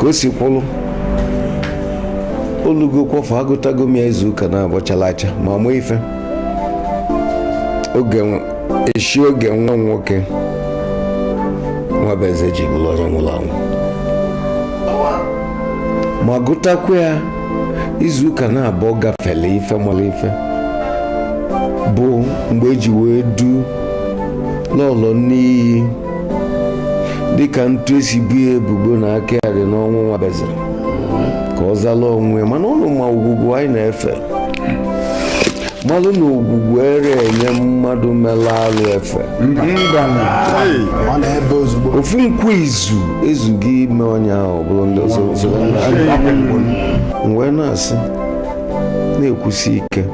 ka o si kwụlụ o lugo kwọfụ agụtago m ya izu ụka naabọ chala acha ma mụ ife oge eshi oge nwa nwoke nwabueze ji bụrụ onye nwụrụ anwụ ma gụtakwa ya izu ụka naabọ gafele ife mara ife bụ mgbe e ji wee du n'ụlọ n'iyi dịka etu e si bo ya ebubo na aka ya dị n'ọnwụ nwabueze ka ọ zala onwe ya mana ụnụ ma ogwugwu anyị na-efe malụ na ogwugwu ere enye mmadụ mere alụ efe ofu nkwu izu ezughị ime onye ahụ bụrụ ndị ọzọ wee na-asị na-ekwusi ike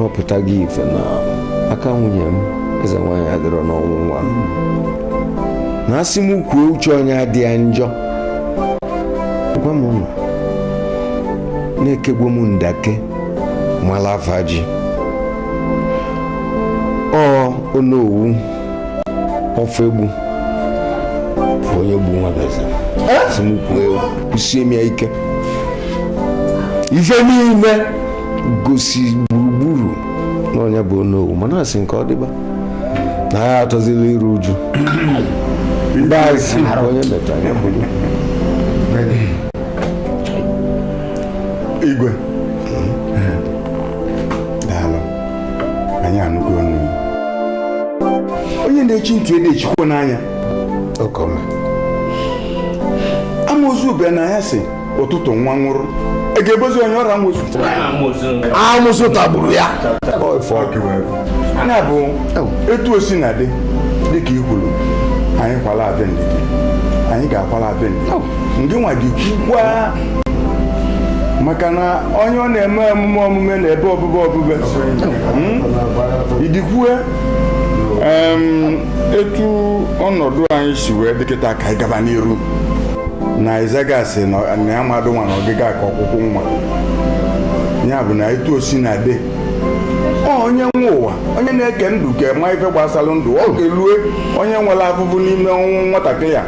ọ pụtago ife na aka nwunye m eze nwaanyị adịrọ n'ọnwụ nwa na asị m kwuo uche onye adị ya njọ gwa m ụnụ na-ekegbu m ndake malavaji ọ onowu ọfọ egbu onye gbu nwabueze si m kwuo ekwu kwusie m ya ike ife niile gosi gburugburu na onye bụ onowu mana asị nke ọ dịba na ya atọzila iru uju ndị asị onye metara ya bụrụ igwe anyị anụgo ọnụ onye na-echi ntị ede echikwa n'anya amusu bịa n'anyasị ụtụtụ nwa nwụrụ a ga-ebozi onye ọrọ amusu amusu tagburu ya nya bụ etu o sina dị dịka i kwuru anyị kwala abịa ndidi anyị ga-akwala abịa ndidi ndị nwa gị kwukwa maka na onye ọ na-eme omume omume na-ebe obube obube hmm? idikwue etu ọnọdụ anyị si wee dị kịta ka anyị gaba n'iru na izaga si na ya mmadụ nwa na ọgịga ka ọkụkụ nwa ya bụ na etu o sina dị onye nwe ụwa onye na-eke ndụ ka ma ife gbasara ndụ ọ ga-elue onye nwere afụfụ n'ime ọnwụ nwatakịrị a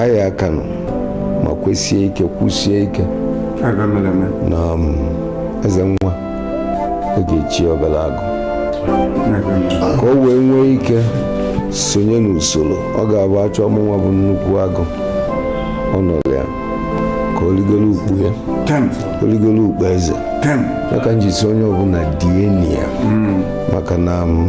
anyị aka nọ ma kwesie ike kwusie ike na um, eze nwa a ga-echi obere agụ ka o wee nwee ike sonye n'usoro ọ ga-abụ a chọọ mụnwa bụ nnukwu agụ ọ nọrọ ya ka o ligolo ukpo ya o ligolo ukpo eze ya ka m ji sị onye ọbụla die ya hmm. maka na um,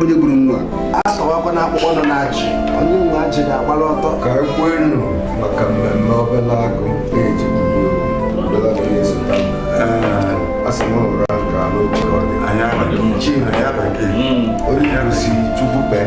onye gburu nwa asọwakwa na akpụkpọ nọ na ajị onye nwe ajị ga-agbara ọtọ ka e kwenu maka mmemme obele agụ na-eji asị m ụra nke ala otu ọ dị onye kwụsị chukwu kpee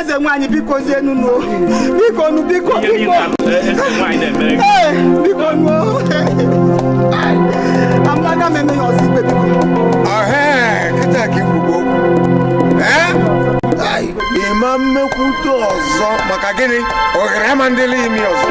eze nwaanyị biko zienu nu biko nu biko biko biko nu amaga m eme ya ọzọ ikpe biko kịta ka i kwugo ị ma mekwute ọzọ maka gịnị ohere ama ndị imi ọzọ